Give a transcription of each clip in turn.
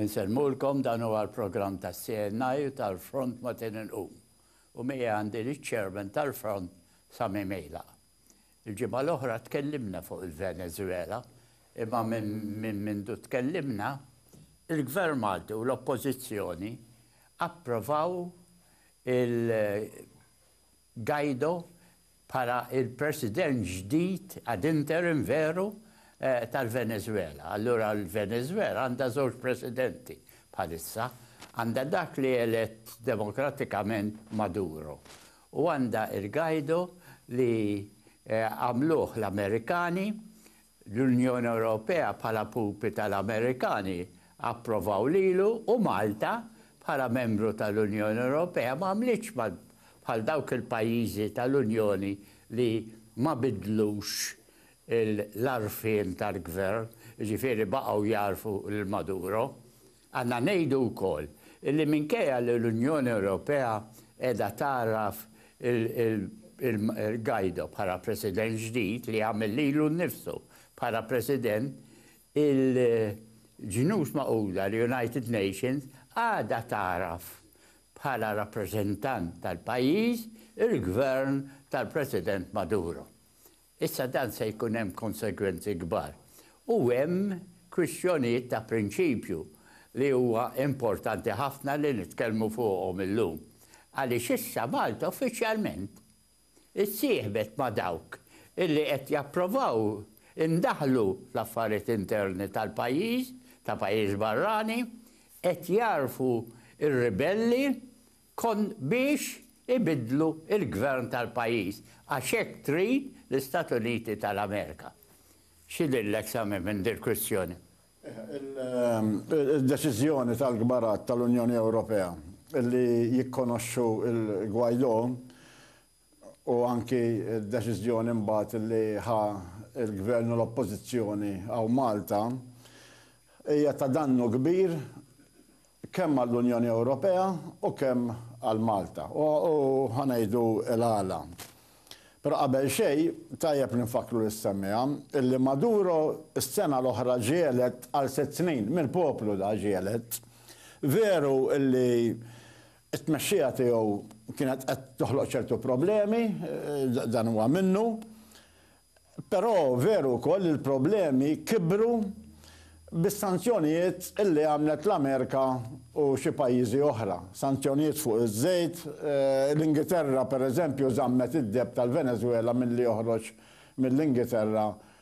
Insellmulkom dan huwa l-programm tas-CNI u tal-Front Matin Inqum u miegħi għandi liċ-Chairman tal-Front Sami Mejlaq. Il-ġimgħa l-oħra tkellimna fuq il-Venezwela imma minn mindu tkellimna il-Gvern Malti u l-Oppożizzjoni approvaw il Guaido bħala l-President ġdid, ad interim veru, tal-Venezwela. Allura l-Venezwela għandha żewġ Presidenti bħalissa. Għandha dak li elett demokratikament Maduro u għandha il-Guaido li għamluh l-Amerikani L-Unjoni Ewropea bħala pupi tal-Amerikani approvaw lilu u Malta bħala membru tal-Unjoni Ewropea ma għamlitx bħal dawk il-pajjiżi tal-Unjoni li ma biddlux l-għarfien tal-gvern, jiġifieri baqgħu jagħrfu lil Maduro. Għandna ngħidu wkoll li minkejja li l-Unjoni Ewropea qiegħda tgħarraf lil Guaido bħala President ġdid li għamel lilu nnifsu bħala President, il-Ġnus Magħquda, l-United Nations, għadha tagħraf bħala rappreżentant tal-pajjiż il-Gvern tal-President Maduro. Issa dan se jkun hemm konsegwenzi kbar u hemm kwistjonijiet ta' prinċipju li huwa importanti ħafna li nitkellmu fuqhom illum għaliex issa Malta uffiċjalment issieħbet ma' dawk illi qed japprovaw indaħlu fl-affarijiet interni tal-pajjiż ta' pajjiż barrani qed jagħrfu r-ribelli Kont biex ibiddlu l-gvern tal-pajjiż għax hekk trid l-Istati Uniti tal-Amerika. X'idhirlek Sami minn dil-kwistjoni? Id-deċiżjoni tal-kbarat tal-Unjoni Ewropea li jikkonoxxu l-Guaidó u anki d-deċiżjoni mbagħad li ħa l-Gvern u l-Oppożizzjoni hawn Malta hija ta' dannu kbir kemm għall-Unjoni Ewropea u kemm għal Malta. U ħa ngħidu l-għala. Però qabel xejn tajjeb li nfakkru lis-semmiegħa illi Maduro s-sena l-oħra ġie elett għal sitt snin, mill-poplu da ġie elett. Veru illi It-tmexxija tiegħu kienet qed toħloq ċertu problemi, dan huwa minnu, però veru wkoll li l-problemi kibru bis-sanzjonijiet li għamlet l-Amerika u xi pajjiżi oħra. Sanzjonijiet fuq iż-żejt, l-Ingiterra pereżempju żammet id-deheb tal-Venezwela milli joħroġ mill-Ingiterra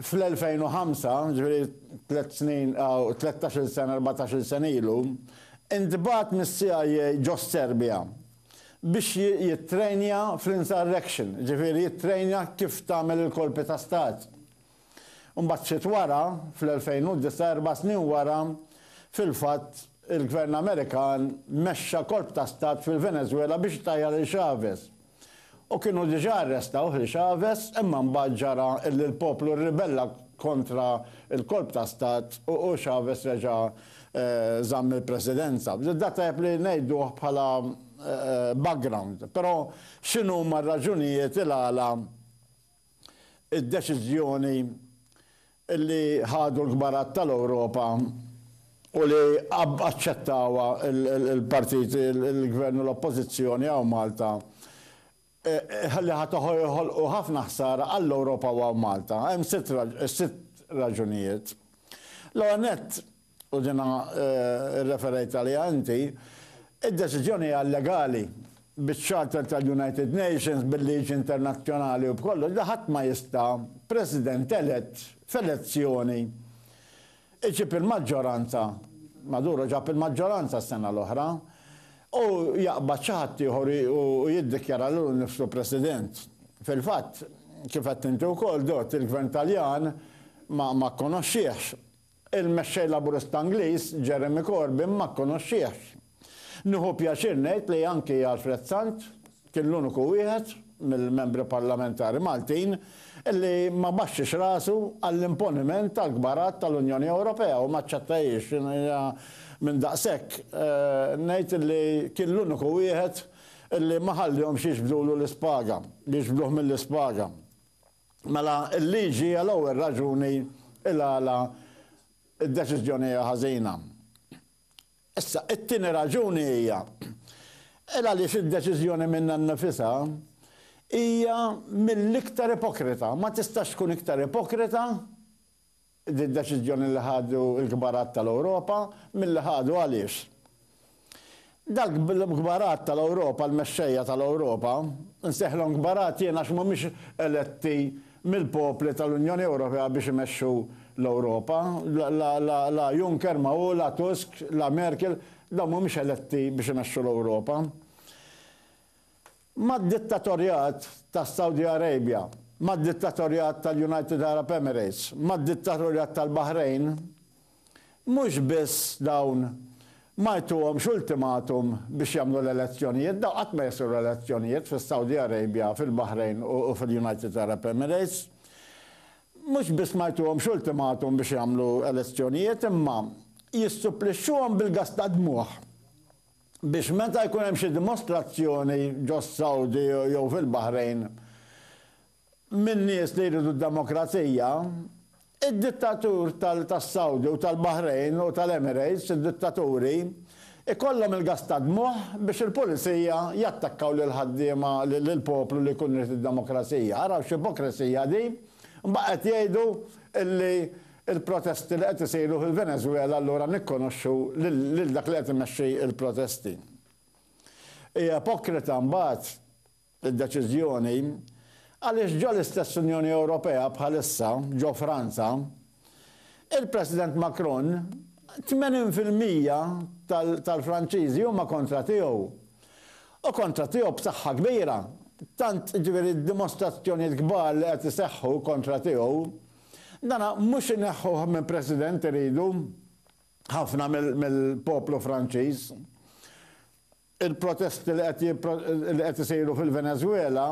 Fl-2005, ġifieri tliet snin, tlettax-il sena, erbatax-il sena ilu, intbagħat mis-CIA ġo s-Serbja biex jittrejnja fl-insurrection, ġifieri jittrejnja kif tagħmel il-kolpi ta' stat. Imbagħad ftit wara, fl-2009, erba' snin wara, fil-fatt, il-Gvern Amerikan mexxa kolp ta' stat fil-Venezwela biex itajjar lil Chavez. U kienu diġà arrestawh, li Chavez, imma mbagħad ġara illi l-poplu rribella kontra l-kolp ta' stat u Chavez reġa' żamm il-presidenza. Dan tajjeb li ngħiduh bħala background. Però x'inhuma r-raġunijiet il-għala d-deċiżjoni li ħadu l-kbarat tal-Ewropa u li aċċettawha l-partiti, il-Gvern u l-Oppożizzjoni hawn Malta, li ħa joħolqu ħafna ħsara għall-Ewropa u għal Malta. Hemm sitt raġunijiet. L-ewwel nett, u jiena rreferejt għaliha inti, id-deċiżjoni hija illegali biċ-Charter tal-United Nations, bil-liġi internazzjonali u b'kollox, li ħadd ma jista', President elett f'elezzjoni, iġib il-maġġoranza, Maduro ġab il-maġġoranza s-sena l-oħra, u jaqbad xi ħadd ieħor u jiddikjara lilu nnifsu President. Fil-fatt, kif għedt inti wkoll, Dott, il-Gvern Taljan ma kkonoxxiehx Il-Mexxej Laburista Ingliż, Jeremy Corbyn ma kkonoxxiehx. Nieħu pjaċir ngħid li anki Alfred Sant kien l-uniku wieħed mill-Membri Parlamentari Maltin li ma baxxiex rasu għall-imponiment tal-kbarat tal-Unjoni Ewropea u ma aċċettahiex. Jiena minn daqshekk ngħid li kien l-uniku wieħed li ma ħallihomx jiġbdulu l-ispaga, jiġbduh mill-ispaga. Mela l-liġi hija l-ewwel raġuni il-għala d-deċiżjoni hija ħażina. Issa, it-tieni raġuni hija il għaliex id-deċiżjoni minnha nnifisha hija mill-iktar ipokrita. Ma tistax tkun iktar ipokrita Din deċiżjoni li ħadu l-kbarat tal-Ewropa, milli ħadu għaliex? Dal-kbarat tal-Ewropa, l-mexxejja tal-Ewropa, insejħlhom kbarat jien għax mhumiex eletti mill-popli tal-Unjoni Ewropea biex imexxu l-Ewropa. La Juncker ma hu, la Tusk, la Merkel, dawn mhumiex eletti biex imexxu l-Ewropa. mad-dittatorjat tas-Saudi Arabia, mad-dittatorjat tal-United Arab Emirates, mad-dittatorjat tal-Baħrejn, mhux biss dawn ma jtuhomx ultimatum biex jagħmlu l-elezzjonijiet, dawn qatt ma jsiru elezzjonijiet fis-Saudi Arabia, fil-Baħrejn u fil-United Arab Emirates, mhux biss ma jtuhomx ultimatum biex jagħmlu elezzjonijiet imma jissupplixxuhom bil-gass tad-dmugħ. biex meta jkun hemm xi dimostrazzjoni ġos-Sawdi jew fil-Baħrejn minn nies li jridu d-demokrazija, id-dittatur tas-Sawdi u tal-Baħrejn u tal-Emirates, id-dittaturi, ikollhom il-gass tad-dmugħ biex il-pulizija jattakkaw lill-ħaddiema, lill-poplu li jkun irid id-demokrazija. Araw x'ipokresija din! Imbagħad qed jgħidu li Il-protesti li qed isiru fil-Venezwela allura nikkonoxxu lil dak li qed imexxi l-protesti. Hi ipokrita mbagħad id-deċiżjoni għaliex ġo l-istess Unjoni Ewropea bħalissa, ġo Franza, il-President Macron 80 fil-mija tal-Franċiżi huma kontra tiegħu u kontra tiegħu b'saħħa kbira, tant jiġifieri d-dimostrazzjonijiet kbar li qed iseħħu kontra tiegħu, Dan mhux ineħħuh minn President iridu ħafna mill-poplu Franċiż. Il-protesti li qed isiru fil-Venezwela,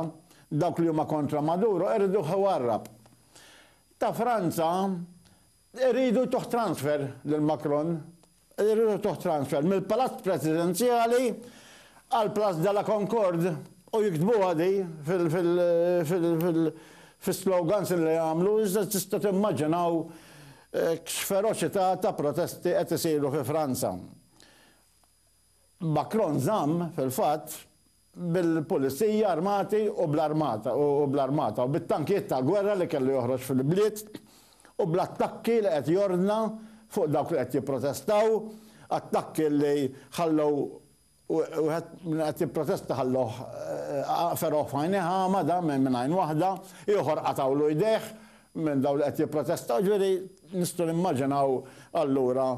dawk li huma kontra Maduro iriduh iwarrab. Ta' Franza iridu jtuh transfer lil Macron. Irridu transfer mill-Palazz Presidenzjali għal Place de la Concorde u jiktbuha di fil-slogans li jagħmlu iżda tista' timmaġinaw x'feroċità ta' protesti qed isiru fi Franza. Macron żamm, fil-fatt, bil-pulizija armati u bl-armata u bl-armata u bit-tankijiet ta' gwerra li kellu joħroġ fil-bliet u bl-attakki li qed jordna fuq dawk li qed jipprotestaw, attakki li ħallew wieħed minn qed jipprotesta ħallewh fergħuh f'għajnejh agħma dan minn għajn waħda, ieħor qatgħulu jdejh minn dawn li qed jipprotestaw, ġifieri nistgħu nimmaġinaw allura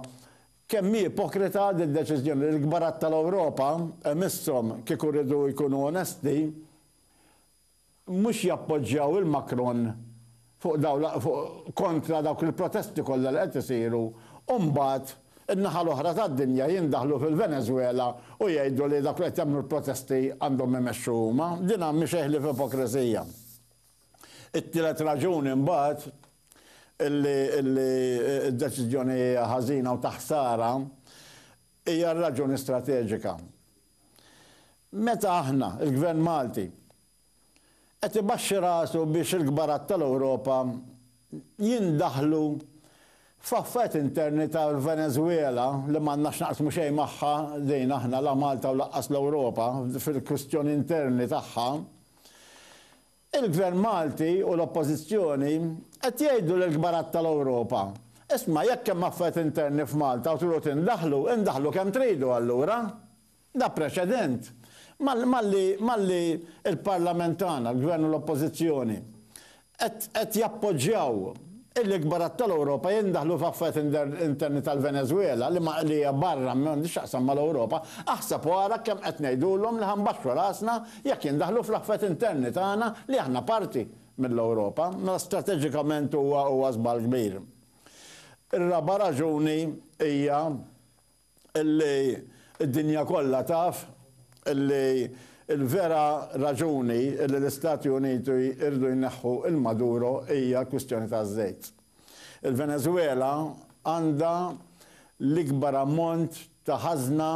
Kemm hi ipokrita din deċiżjoni li l-kbarat tal-Ewropa, imisshom kieku riedu jkunu onesti, mhux jappoġġjaw il Macron fuq dawn l fuq kontra dawk il-protesti kollha li qed isiru u mbagħad in-naħa l-oħra tad-dinja jindaħlu fil-Venezwela u jgħidu li dawk li qed jagħmlu l-protesti għandhom imexxu huma. Din mhi xejn ħlief ipokrisija. It-tielet raġuni mbagħad li d-deċiżjoni hija ħażina u ta' ħsara hija r-raġuni strateġika. Meta aħna, il-Gvern Malti, qed ibaxxi rasu biex il-kbarat tal-Ewropa jindaħlu f'affarijiet interni tal-Venezwela li m'għandna x'naqsmu xejn magħha din aħna la Malta u lanqas l-Ewropa fil-kwistjoni interni tagħha, Il-Gvern Malti u l-Oppożizzjoni qed jgħidu lill-kbarat tal-Ewropa, Isma' jekk hemm affarijiet interni f'Malta u tridu tindaħlu, indaħlu kemm tridu allura. Da preċedent malli l-Parlament tagħna, l-Gvern u l-Oppożizzjoni qed jappoġġjaw illi kbarat tal-Ewropa jindaħlu f'affarijiet interni tal-Venezwela li ma li hija barra m'għandhiex x'taqsam mal-Ewropa, aħseb u ara kemm qed ngħidulhom li ħa nbaxxu rasna jekk jindaħlu fl-affarijiet interni tagħna li aħna parti mill-Ewropa. Mela strateġikament huwa huwa żball kbir. Ir-raba' raġuni hija Illi d-dinja kollha taf illi l-vera raġuni illi l-Istati Uniti jridu jneħħu lil Maduro hija l-kwistjoni taż-żejt. Il-Venezuela għandha l-ikbar ammont ta' ħażna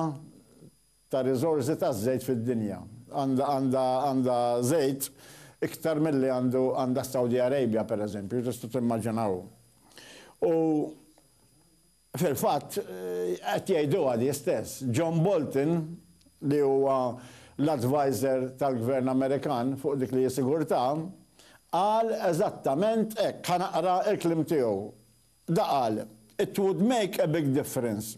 ta' riżorsi taż-żejt fid-dinja. Għandha żejt iktar milli għandha s-Saudi Arabia, pereżempju, tista' timmaġina hu. Fil-fatt, qed jgħiduha di stess. John Bolton, li huwa l-adviser tal-Gvern Amerikan fuq dik li hi sigurtà, qal eżattament hekk. Ħa naqra l-kliem tiegħu. Da qal, It would make a big difference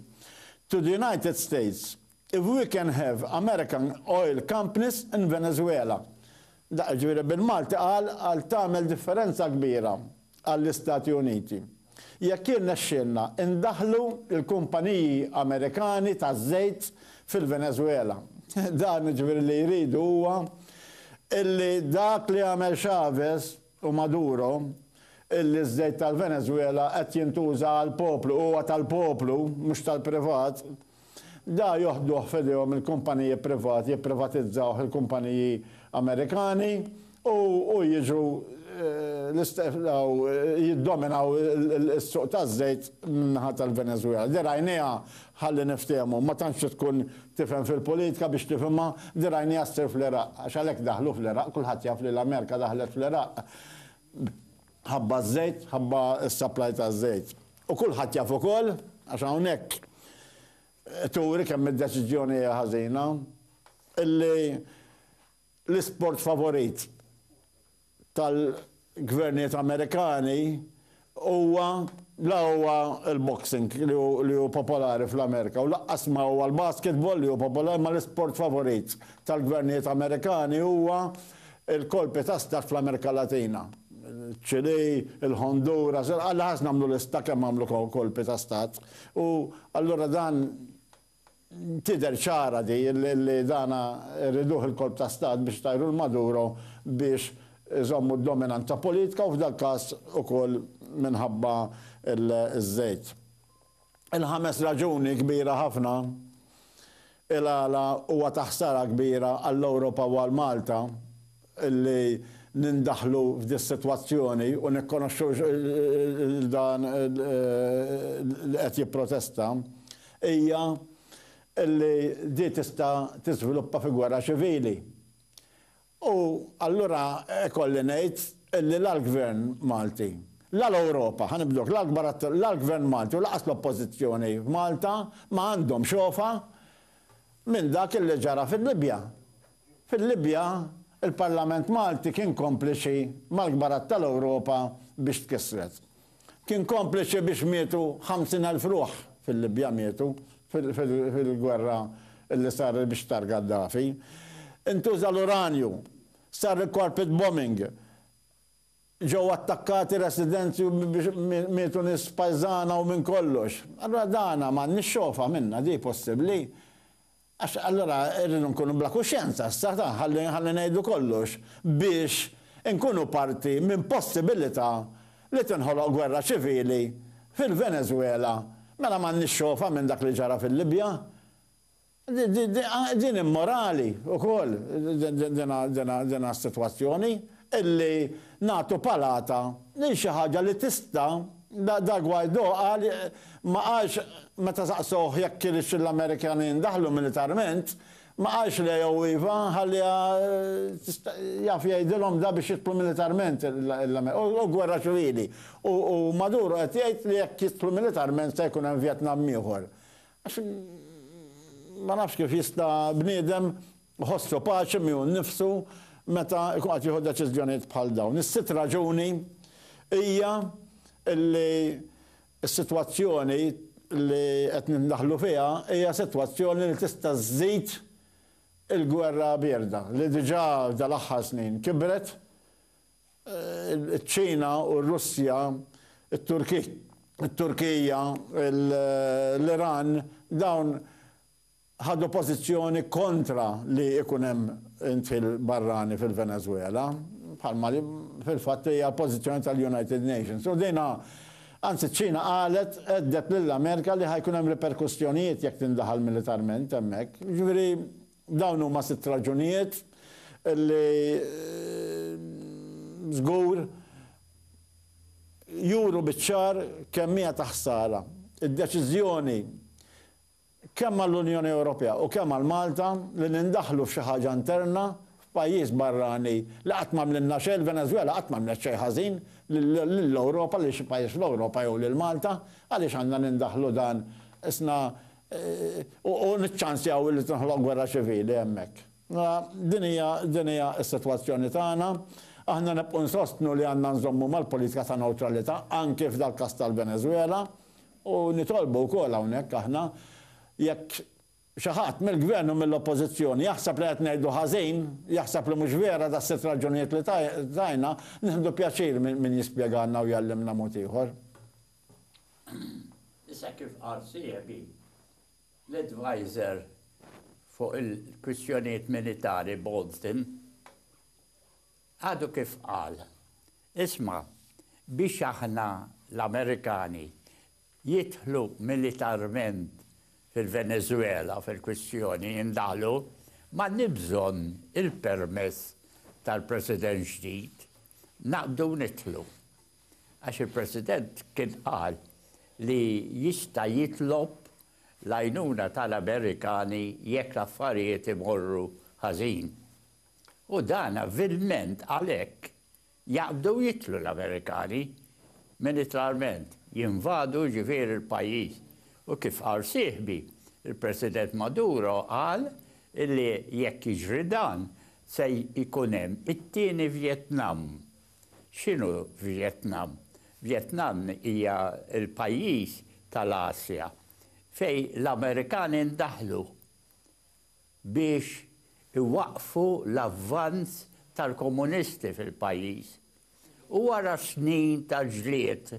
to the United States If we can have American oil companies in Venezuela. Dak jiġifieri bil-Malti qal għal tagħmel differenza kbira għall-Istati Uniti. Jekk jirnexxielna indaħħlu l-kumpaniji Amerikani taż-żejt fil-Venezuela. Dan jiġifieri li jridu huwa illi dak li għamel Chavez u Maduro illi ż-żejt tal-Venezuela qed jintuża għall-poplu, huwa tal-poplu mhux tal-privat. Da joħduh f'idejhom il-kumpaniji privati, jipprivatizzawh il-kumpaniji Amerikani u u jiġu jiddominaw is-suq taż-żejt min-naħa tal-Venezwela. Dirajnieha, ħalli niftehmu, ma tantx trid tkun tifhem fil-politika biex tifhimha, dirajnieha ssir fl-Iraq, għax għalhekk daħlu fl-Iraq, kulħadd jaf li l-Amerika daħlet fl-Iraq. Ħabba ż-żejt, ħabba s-supply taż-żejt. U kulħadd jaf ukoll, għax hawnhekk turi kemm id-deċiżjoni hija ħażina, illi l-isport favorit tal-gvernijiet Amerikani huwa la huwa l-boxing li hu popolari fl-Amerika u lanqas ma huwa l-basketball li hu popolari ma l-isport favorit tal-gvernijiet Amerikani huwa Il-kolpi ta' stat fl-Amerika Latina, ċ-Ċilì, il-Honduras, alla ħarsna għamlu lista kemm għamlu kolpi ta' stat. U allura dan tidher ċara di li dana rriduh il-kolp ta' stat biex itajru 'l Maduro biex iżommu d-dominanza politka u f'dal-każ ukoll minħabba ż-żejt. Il-ħames raġuni kbira ħafna il-għala huwa ta' ħsara kbira għall-Ewropa u għal Malta li nindaħlu f'dis-sitwazzjoni u nikkonoxxu lil dan li qed jipprotesta hija li di tista' tiżviluppa fi gwerra ċivili. U allura ikolli ngħid li la l-Gvern Malti, la l-Ewropa, ħa nibdu hekk, la l-kbar atturi, la l-Gvern Malti u lanqas l-Oppożizzjoni f'Malta ma għandhom xofa minn dak li ġara fil-Libja. Fil-Libja l-Parlament Malti kien kompliċi mal-kbar att tal-Ewropa biex tkissret. Kien kompliċi biex mietu 50,000 ruħ fil-Libja mietu fil-gwerra li saret biex tar Gaddafi. Intuża l-uranju, sar il-carpet bombing, ġew attakkati residenzi biex mietu nies pajżana u minn kollox. Allura dana m'għandniex xogħofa minnha di possibbli. Għax allura rridu nkunu bla kuxjenza, issa ta' ħalli ħalli ngħidu kollox biex inkunu parti minn possibilità li tinħoloq gwerra ċivili fil-Venezwela, mela m'għandniex xogħfa minn dak li ġara fil-Libja? Di di di din immorali wkoll dina dina dina sitwazzjoni. illi nagħtu palata lil xi ħaġa li tista' Da Guaido qal ma qalx meta saqsowh jekk iridx li l-Amerikani jindaħlu militarment, ma qalx le jew iva, ħalliha tista' jaf jgħidilhom da biex jidħlu militarment u gwerra ċivili u Maduro qed jgħid li jekk jidħlu militarment se jkun hemm Vjetnam ieħor. Għax ma nafx kif jista' bniedem Iħossu paċi miegħu nnifsu meta jkun qed jieħu deċiżjonijiet bħal dawn. Is-sitt raġuni hija li s-sitwazzjoni li qed nindaħlu fiha hija sitwazzjoni li tista' żżid il-gwerra bierda li diġà dal-aħħar snin kibret. Iċ-Ċina u r-Russja, it-Turkija, l-Iran, dawn ħadu pożizzjoni kontra li jkun hemm indħil barrani fil-Venezwela, bħalma li fil-fatt hija l-pożizzjoni tal-United Nations. U din anzi ċ-Ċina qalet, għedded lill-Amerika li ħa jkun hemm riperkussjonijiet jekk tindaħal militarment hemmhekk. Jiġifieri dawn huma sitt raġunijiet li żgur juru biċ-ċar kemm hija ta' ħsara d-deċiżjoni kemm għall-Unjoni Ewropea u kemm għal Malta, li nindaħlu f'xi ħaġa interna f'pajjiż barrani li qatt m'għamlilna xejn, il-Venezwela qatt m'għamlet xejn ħażin lill-Ewropa, lil xi pajjiż fl-Ewropa jew lil Malta, għaliex għandna nindaħlu dan isna u niċċansjaw li tinħloq gwerra ċivili hemmhekk? Din hija din hija s-sitwazzjoni tagħna. Aħna nibqgħu nsostnu li għandna nżommu mal-politika ta' newtralità anki f'dal-każ tal-Venezwela. U nitolbu wkoll hawnhekk aħna, jekk xi ħadd mill-Gvern u mill-Oppożizzjoni jaħseb li qed ngħidu ħażin, jaħseb li mhux vera das-sitt raġunijiet li tajna, nieħdu pjaċir minn jispjegalna u jgħallimna mod ieħor. Issa kif qal sieħbi, l-adviser fuq il-kwistjonijiet militari Bolton, Għadu kif qal, Isma', biex aħna l-Amerikani jidħlu militarment fil-Venezwela fil-kwistjoni indaħlu, m'għandniex bżonn il-permess tal-President ġdid, naqbdu nidħlu. Għax il-President kien qal li jista' jitlob l-għajnuna tal-Amerikani jekk l-affarijiet imorru ħażin. U dan vilment għalhekk jaqbdu jidħlu l-Amerikani, militarment, jinvadu jiġifieri l-pajjiż. U kif qal sieħbi, il-President Maduro qal illi jekk jiġri dan se jkun hemm it-tieni Vjetnam. X'inhu Vjetnam? Vjetnam hija l-pajjiż tal-Asja fejn l-Amerikani ndaħlu. biex iwaqqfu l-avvanz tal-komunisti fil-pajjiż u wara snin ta' ġlied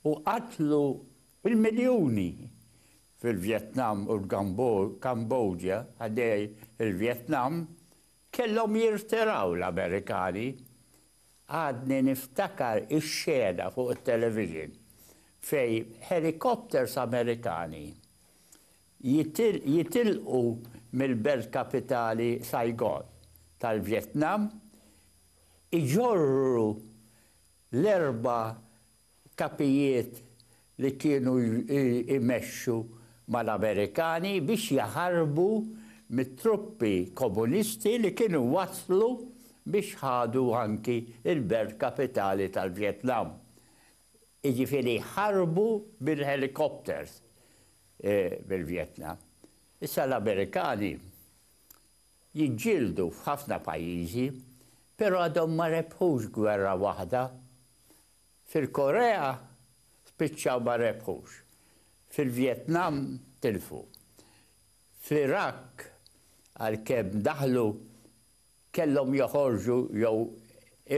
u qatlu bil-miljuni fil-Vjetnam u l-Kambodja ħdej il-Vjetnam kellhom jirtiraw l-Amerikani. Għadni niftakar ix-xena fuq it-television fejn helicopters Amerikani jitilqu mill-belt kapitali Saigon tal-Vjetnam, iġorru l-erba' kapijiet li kienu jmexxu mal-Amerikani biex jaħarbu mit-truppi komunisti li kienu waslu biex ħadu anki l-belt kapitali tal-Vjetnam. Jiġifieri ħarbu bil-helicopters. bil-Vjetnam. Issa l-Amerikani jiġġieldu f'ħafna pajjiżi, però għadhom ma rebħux gwerra waħda. Fil-Korea spiċċaw ma rebħux. Fil-Vjetnam tilfu. Fl-Iraq għalkemm daħlu kellhom joħorġu jew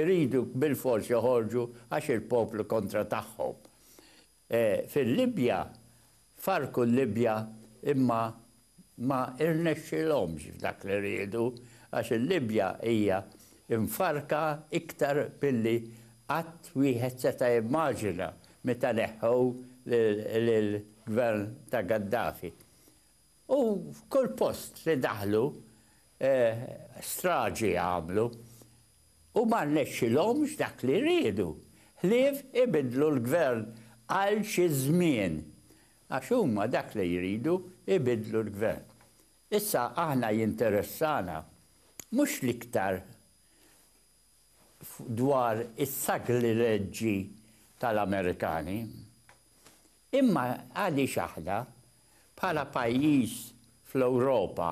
iridu bilfors joħorġu għax il-poplu kontra tagħhom. fil-Libja, farrku l-Libja imma ma rnexxielhomx f'dak li riedu għax il-Libja hija mfarrka iktar milli qatt wieħed seta' jimmaġina meta neħħew lill-Gvern ta' Gaddafi. U kull post li daħlu straġi għamlu u ma rnexxilhomx dak li riedu, ħlief ibiddlu l-Gvern għal xi żmien. Għax huma dak li jridu, ibiddlu l-Gvern. Issa aħna jinteressana mhux l-iktar dwar is-saglileġġi tal-Amerikani. Imma għaliex aħna, bħala pajjiż fl-Ewropa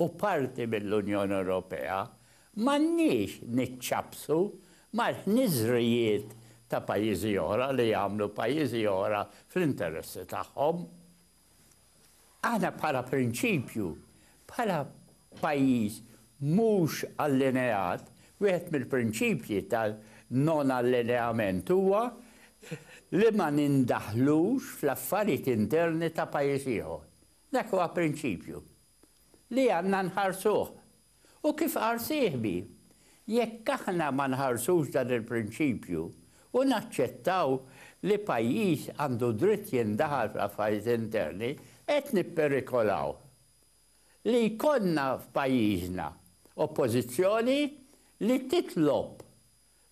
u parti mill-Unjoni Ewropea, m'għandniex niċċappsu mal-ħniżrijiet ta' pajjiżi oħra li jagħmlu pajjiżi oħra fl-interessi tagħhom? Aħna bħala prinċipju, bħala pajjiż mhux allineat, wieħed mill-prinċipji tan-non allineament huwa li ma nindaħlux fl-affarijiet interni ta' pajjiż ieħor. Dak huwa prinċipju li għandna nħarsuh U kif qal sieħbi, jekk aħna ma nħarsux dan il-prinċipju u naċċettaw li pajjiż għandu dritt jindaħal fl-affarijiet interni, qed nipperikolaw li jkollna f'pajjiżna Oppożizzjoni li titlob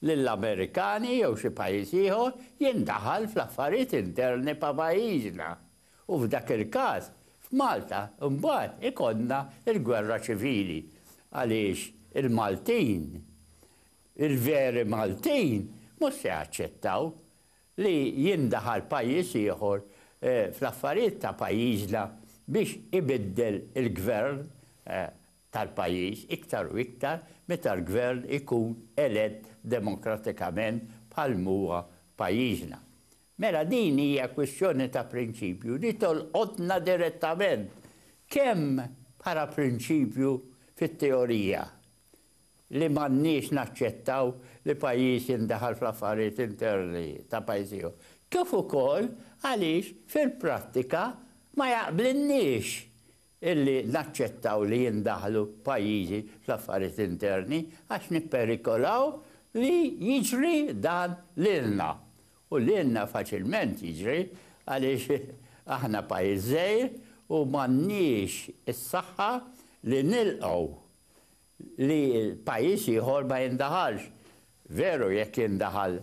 lill-Amerikani jew xi pajjiż ieħor jindaħal fl-affarijiet interni pa' pajjiżna u f'dak il-każ f'Malta mbagħad ikollna l-gwerra ċivili għaliex il-Maltin, il-veri Maltin mhux se jaċċettaw li jindaħal pajjiż ieħor fl-affarijiet ta' pajjiżna biex ibiddel il-gvern tal-pajjiż iktar u iktar meta l-gvern ikun elett demokratikament bħal m'huwa f'pajjiżna. Mela din hija kwistjoni ta' prinċipju li tolqotna direttament kemm bħala prinċipju fit-teorija li m'għandniex naċċettaw li pajjiż jindaħal fl-affarijiet interni ta' pajjiż ieħor, kif ukoll għaliex fil-prattika ma jaqblilniex illi naċċettaw li jindaħlu pajjiżi fl-affarijiet interni għax nipperikolaw li jiġri dan lilna. U lilna faċilment jiġri għaliex aħna pajjiż żgħir u m'għandniex is-saħħa li nilqgħu li pajjiż ieħor ma jindaħalx. Veru jekk jindaħal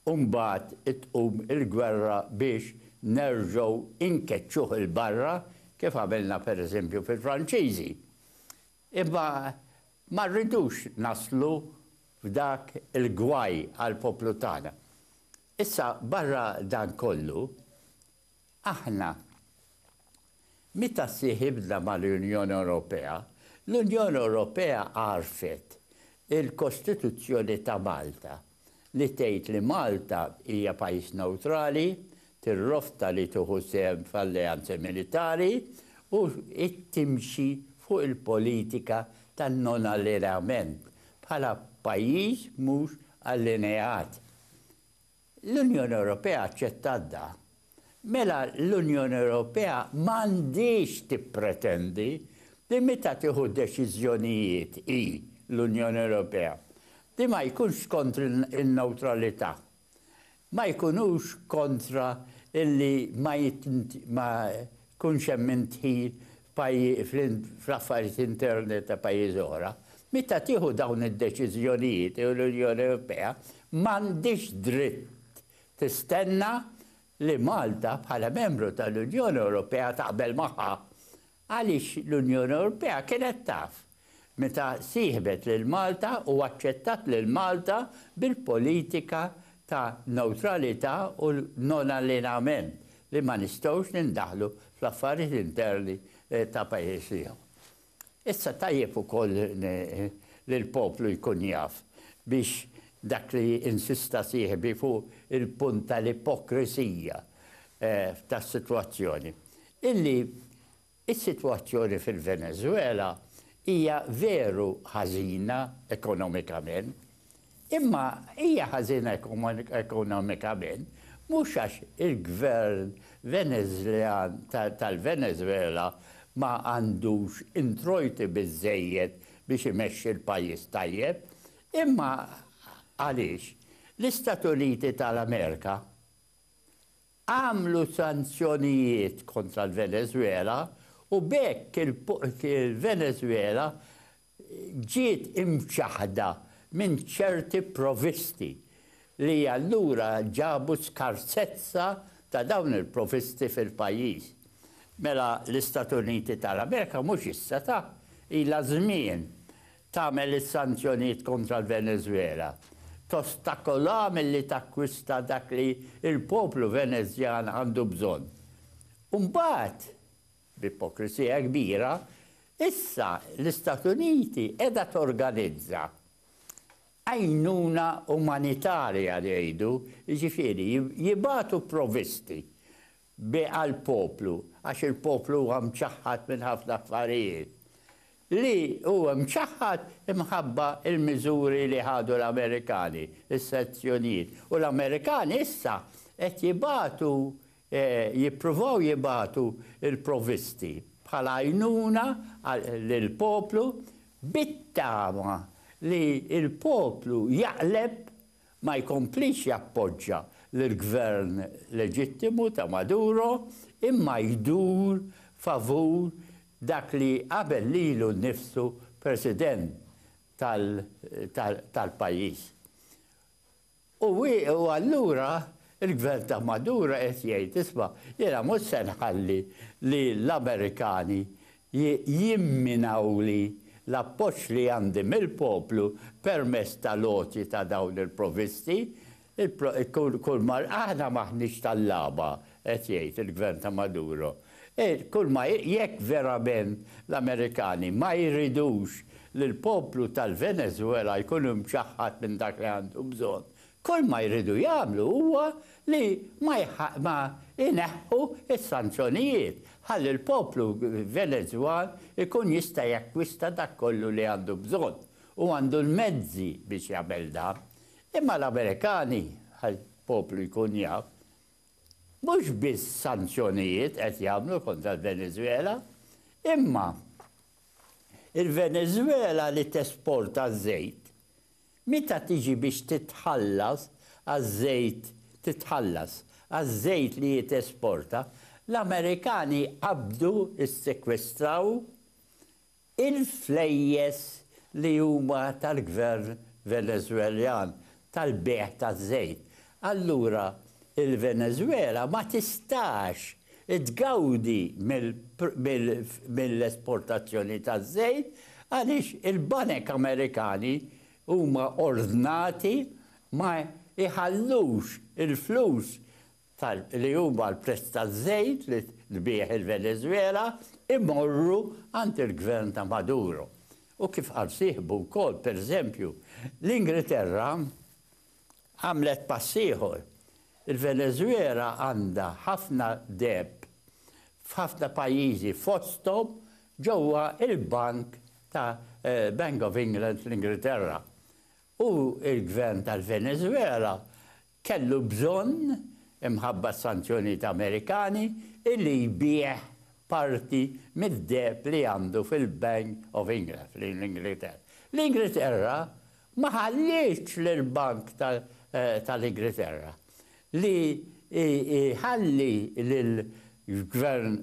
u mbagħad tqum il-gwerra biex nerġgħu nkeċċuh 'il barra kif għamilna per eżempju fil-Franċiżi. Imma ma rridux naslu f'dak il-gwaj għall-poplu tagħna. Issa barra dan kollu, Aħna, meta sieħibna mal-Unjoni Ewropea, l-Unjoni Ewropea għarfet il-Kostituzzjoni ta' Malta li tgħid li Malta hija pajjiż newtrali, tirrofta li tieħu sehem f'alleanzi militari u timxi fuq il-politika tan-non-allineament bħala pajjiż mhux allineat. L-Unjoni Ewropea aċċettat dan, mela l-Unjoni Ewropea m'għandhiex tippretendi li meta tieħu deċiżjonijiet hi, l-Unjoni Ewropea, li ma jkunx kontra n-newtralità, ma jkunux kontra li ma Jkunx hemm min dħil fl-affarijiet interni ta' pajjiżi oħra. Meta tieħu dawn id-deċiżjonijiet l-Unjoni Ewropea m'għandhiex dritt tistenna li Malta bħala membru tal-Unjoni Ewropea taqbel magħha għaliex l-Unjoni Ewropea kienet taf meta sieħbet lil Malta u aċċettat lil Malta bil-politika ta' newtralità u non-allineament li ma nistgħux nindaħlu fl-affarijiet interni ta' pajjiż ieħor. Issa tajjeb ukoll li l-poplu jkun jaf biex dak li insista sieħbi fuq il-punt tal-ipokrisija tas-sitwazzjoni, illi Is-sitwazzjoni fil-Veneżwela hija veru ħażina ekonomikament, imma hija ħażina ekonomikament mhux għax il-Gvern Veneżljan tal-Veneżwela ma għandux introjti biżżejjed biex imexxi l-pajjiż tajjeb, imma għaliex l-Istat Uniti tal-Amerika għamlu sanzjonijiet kontra l-Venezwela u b'hekk il-Venezwela ġiet imċaħħda minn ċerti provvisti li allura ġabu skarsezza ta' dawn il-provvisti fil-pajjiż. Mela l-Istati Uniti tal-Amerika mhux issa ta' ilha żmien tagħmel is-sanzjonijiet kontra l-Venezwela, tostakolaha milli takkwista dak li l-poplu Venezjan għandu bżonn. U mbagħad, b'ipokrisija kbira, issa l-Istat Uniti qiegħda torganizza għajnuna umanitarja jgħidu, jiġifieri jibagħtu provvisti bi għall-poplu, għax il-poplu huwa mċaħħad minn ħafna affarijiet, li hu mċaħħad imħabba l-miżuri li ħadu l-Amerikani, is-sanzjonijiet, u l-Amerikani issa qed jibagħtu, jippruvaw jibagħtu l-provvisti bħala għajnuna lill-poplu bit-tama li l-poplu jaqleb ma jkomplix jappoġġa lill-Gvern leġittimu ta' Maduro imma jdur favur dak li qabel lilu nnifsu President tal-pajjiż. U allura l-Gvern ta' Maduro qed jgħid, isma', jiena mhux se nħalli li l-Amerikani jimminawli l-appoġġ li għandi mill-poplu permezz tal-għoti ta' dawn il-provvisti, kulma aħna m'aħniex tal-lagħba, qed jgħid il-Gvern ta' Maduro. Kulma jekk verament l-Amerikani ma jridux li l-poplu tal-Venezwela jkun imċaħħad minn dak li għandu bżonn, Kull ma jridu jagħmlu huwa li ma ma jneħħu s-sanzjonijiet ħalli l-poplu Venezwan ikun jista' jakkwista dak kollu li għandu bżonn u għandu l-mezzi biex jagħmel dan. Imma l-Amerikani, ħalli l-poplu jkun jaf, mhux biss sanzjonijiet qed jagħmlu kontra l-Venezwela, imma il-Venezwela li tesporta ż-żejt Meta tiġi biex titħallas għaż-żejt titħallas għaż-żejt li hi tesporta, l-Amerikani qabdu, issekwestraw, il-flejjes li huma tal-Gvern Veneżweljan tal-bejgħ taż-żejt allura il-Venezwela ma tistax tgawdi mill-esportazzjoni taż-żejt għaliex il-banek Amerikani huma ordnati ma jħallux il-flus li huma l-prezz taż-żejt li tbigħ il-Venezwela jmorru għand il-Gvern ta' Maduro. U kif qal sieħbu wkoll, pereżempju, l-Ingriterra Għamlet pass ieħor. Il-Veneżwela għandha ħafna deheb f'ħafna pajjiżi fosthom ġewwa l-bank ta' Bank of England fl-Ingilterra. U l-Gvern tal-Veneżwela kellu bżonn, imħabba s-sanzjonijiet Amerikani, illi jbigħ parti mid-deheb li għandu fil-Bank of England fl-Ingilterra. L-Ingilterra ma ħallietx lill-Bank tal-Ingriterra li jħalli lill-Gvern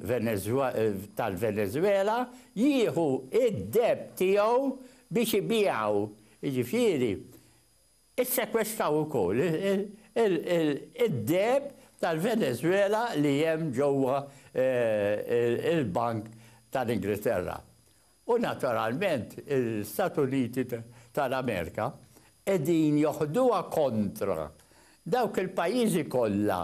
tal-Venezwela jieħu d-deheb tiegħu biex ibiegħu, jiġifieri ssekwestaw ukoll id-deheb tal-Venezwela li hemm ġewwa l-Bank tal-Ingriterra. U naturalment l-Istati Uniti tal-Amerika qegħdin joħduha kontra dawk il-pajjiżi kollha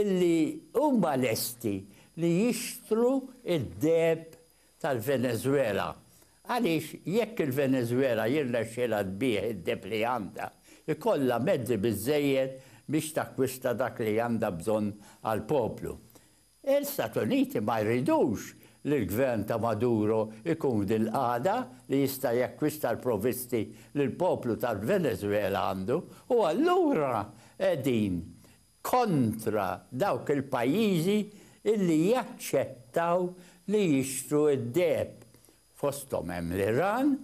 illi huma lesti li jixtru d-deheb tal-Venezwela għaliex jekk il-Venezwela jirnexxilha tbigħ id-deheb li għandha, ikollha mezzi biżżejjed biex takkwista dak li għandha bżonn għall-poplu. L-Istati Uniti ma jridux li l-gvern ta' Maduro jkun f'din il-qagħda li jista' jakkwista l-provvisti li l-poplu tal-Venezwela għandu u allura qegħdin kontra dawk il-pajjiżi li jaċċettaw li jixtru d-deheb, fosthom hemm l-Iran,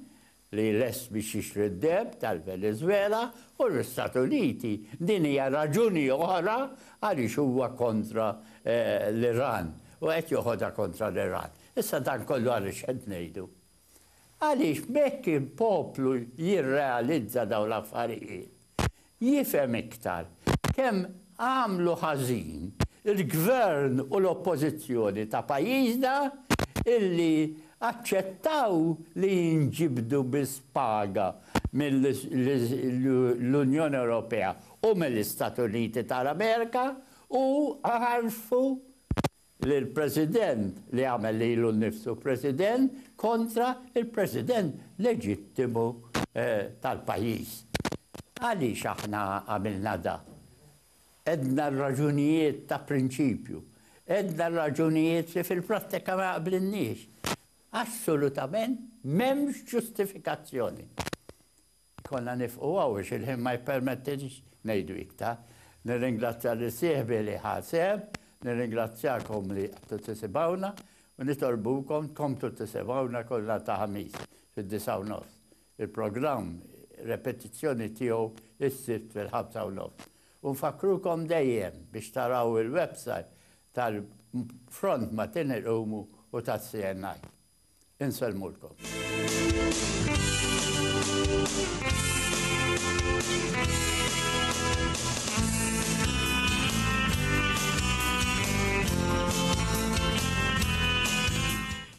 li lest biex jixtri d-deheb tal-Venezwela u l-Istati Uniti. Din hija raġuni oħra għaliex huwa kontra l-Iran u qed joħodha kontra l-Iran. Issa dan kollu għaliex qed ngħidu? Għaliex b'hekk il-poplu jirrealizza dawn l-affarijiet. jifhem iktar kemm għamlu ħażin il-Gvern u l-Oppożizzjoni ta' pajjiżna illi aċċettaw li jinġibdu biss paga mill-Unjoni Ewropea u mill-Istati Uniti tal-Amerika u għarfu lill-President li għamel lilu nnifsu President kontra l-President leġittimu tal-pajjiż. Għaliex aħna għamilna dan? Għedna r-raġunijiet ta' prinċipju. Għedna r-raġunijiet li fil-prattika ma jaqblilniex. Assolutament m'hemmx ġustifikazzjoni. Konna nifqu hawn għax il-ħin ma jippermettilix ngħidu iktar. Nirringrazzja lil sieħbi li ħa sehem, nirringrazzjakom li qgħadtu tisimgħuna u nitolbukom tkomplu tisimgħuna kull nhar ta' Ħamis fid-disgħa u nofs. Il-programm repetizzjoni tiegħu s-Sibt fil-ħamsa u nofs. U nfakkrukom dejjem biex taraw il-website tal-Front ma' Tin Iqumu u tas-CNI. Insellmulkom.